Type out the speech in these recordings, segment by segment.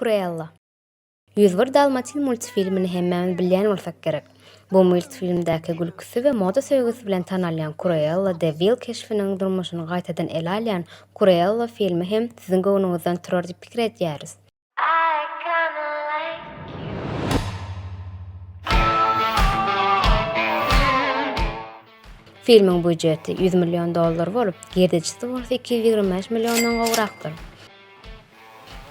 Cruella. Ýüz bir dalmatin multfilmini hemmämiz bilýän bolsak gerek. Bu multfilmdäki gülküsi we moda söýgüsi bilen tanalýan Cruella de Vil keşbiniň durmuşyny gaýtadan ele alýan Cruella filmi hem siziň göwnüňizden turar diýip pikir edýäris. Filmiň býujeti ýüz million dollar bolup, girdejisi bolsa iki ýüz ýigrimi bäş milliondan gowrakdyr.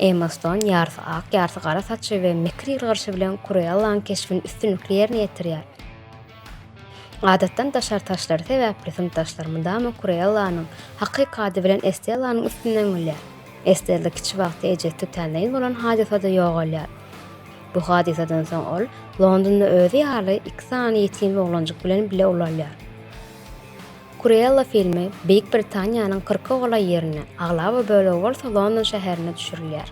Emma Ston ýarysy ak, ýarysy gara saçy we mekir ýylgyryşy bilen Kruellaň keşbini üstünlikli ýerine ýetirýär. Adatdan daşary taşlary sebäpli synpdaşlar mydama Kurellanyň, hakyky ady bilen Estellanyň üstünden gülýär. Estella kiçi wagty ejesi tötänleýin bolan hadysada ýogalýar. Bu hadysadan soň ol Londonda özi ýaly iki sany ýetim oglanjyk bilen bile ulalýar. Kurella filmi Beýik Britaniýanyň kyrka golaý ýerinde, aglaba bölegi bolsa London şäherinde düşürilýär.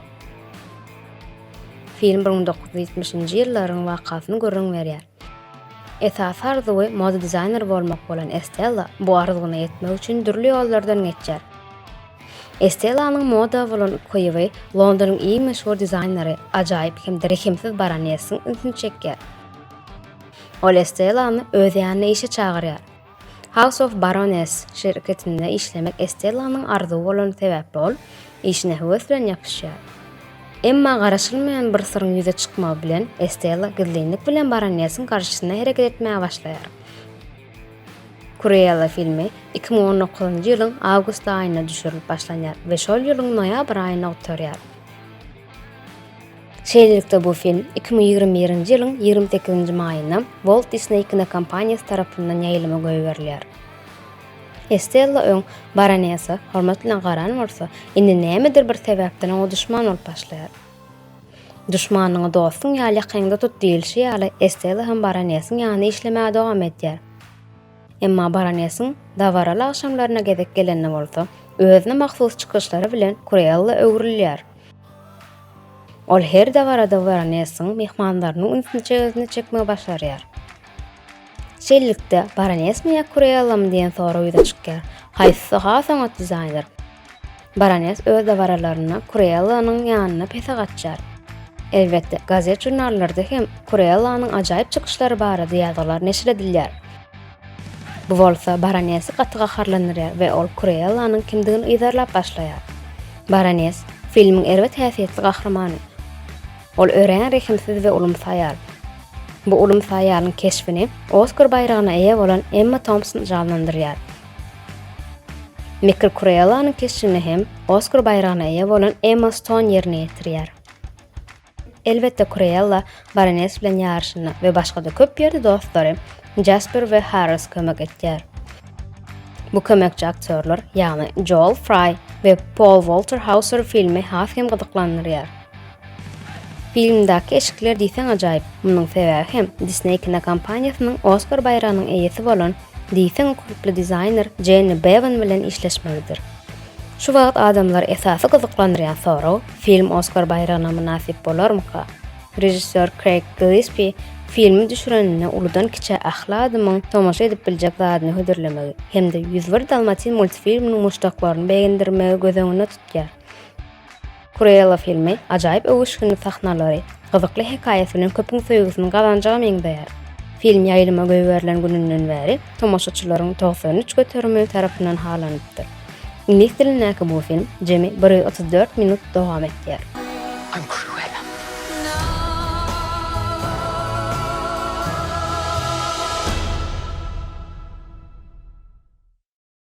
Film bir müň dokuz ýüz ýetmişinji ýyllaryň wakasyny gürrüň berýär. Esasy arzuwy moda dizaýneri bolmak bolan Estella bu arzuwyna ýetmek üçin dürli ýollardan geçýär. Estellanyň moda bolan ukyby Londonyň iň meşhur dizaýneri, ajaýyp hem-de rehimsiz baronessiň ünsüni çekýär. Ol Estellany öz ýanyna işe çagyrýar. House of Baroness şirketinde işlemek Estellanyň arzuwy bolan sebäpli ol işine höwes bilen ýapyşýar. Emma garaşylmaýan bir syryň ýüze çykmagy bilen Estella gizlinlik bilen Baronessiň garşysyna hereket etmäge başlaýar. Cruella filmi iki müň on dokuzynjy ýylyň awgust aýynda düşürilip başlanýar we şol ýylyň noýabr aýynda gutarýar. Şeýlelikde bu film iki müň ýigrimi birinji ýylyň ýigrimi sekizinji maýynda Walt Disney kinokompaniýasy tarapyndan ýaýlyma goýberilýär. Estella öň Baronesa hormat bilen garan bolsa, indi nämedir bir sebäpden oňa duşman bolup başlaýar. Duşmanyňy dostuň ýaly ýakaňda tut diýilişi ýaly, Estella hem Baronesiň ýanynda işlemäge dowam edýär. Emma baronesiň dabaraly agşamlaryna gezek gelende bolsa, özüne mahsus çykyşlary bilen Kruella öwrülýär. Ol her dabarada baronesiň myhmanlarynyň ünsüni özüne çekmegi başarýar. Şeýlelikde, baronesmi ýa Kruellamy diýen sorag ýüze çykýar. Haýsysy has oňat dizaýner? Baroness öz dabaralarynda Kruellanyň ýanyna pese gaçýar. Elbetde, gazet-žurnallarda hem Kruellanyň ajaýyp çykyşlary barada ýazgylar neşir edilýär. Bu bolsa baronesi gaty gaharlandyrýar we ol Kruellanyň kimdigini yzarlap başlaýar. Baroness, filmiň erbet häsiýetli gahrymany. Ol örän rehimsiz we ulumsy aýal. Bu ulumsy aýalyň keşbini Oskar baýragyna eýe bolan Emma Tompson janlandyrýar. Michael Kurellanyň keşbini hem Oskar baýragyna eýe bolan Emma Stone ýerine ýetirýär. Elbetde Kurella Baroness bilen ýaryşynda we başga-da köp ýerde dostlary Jasper we Harris kömek etýär. Bu kömekçi aktýorlar, ýagny Joel Fry we Paul Walter Hauser filmi has hem gyzyklandyrýar. Filmdäki eşikler diýseň ajaýyp, munuň sebäbi hem Disney kinokompaniýasynyň Oskar baýragynyň eýesi bolan diýseň ukyply dizaýner Jenni Bevan bilen işleşmegidir. Şu wagt adamlary esasy gyzyklandyrýan sorag, film Oskar baýragyna mynasyp bolarmyka? Režissýor Kreýg Gillespie filmi düşüreninde uludan-kiçä ähli adamyň tomaşa edip biljek zadyny hödürlemegi hem-de Ýüz bir dalmatin multfilminiň muşdaklaryny begendirmegi göz öňünde tutýar. Cruella filmi ajaýyp öwüşginli sahnalary, gyzykly hekaýasy bilen köpüň söýgüsini gazanjaga meňzeýär. Film ýaýlyma goýberilen gününden bäri tomaşaçylaryň togsan üç göterimi tarapyndan halanypdyr. Iňlis dilindäki bu film jemi bir ýüz otuz dört minut dowam edýär. I'm Cruella.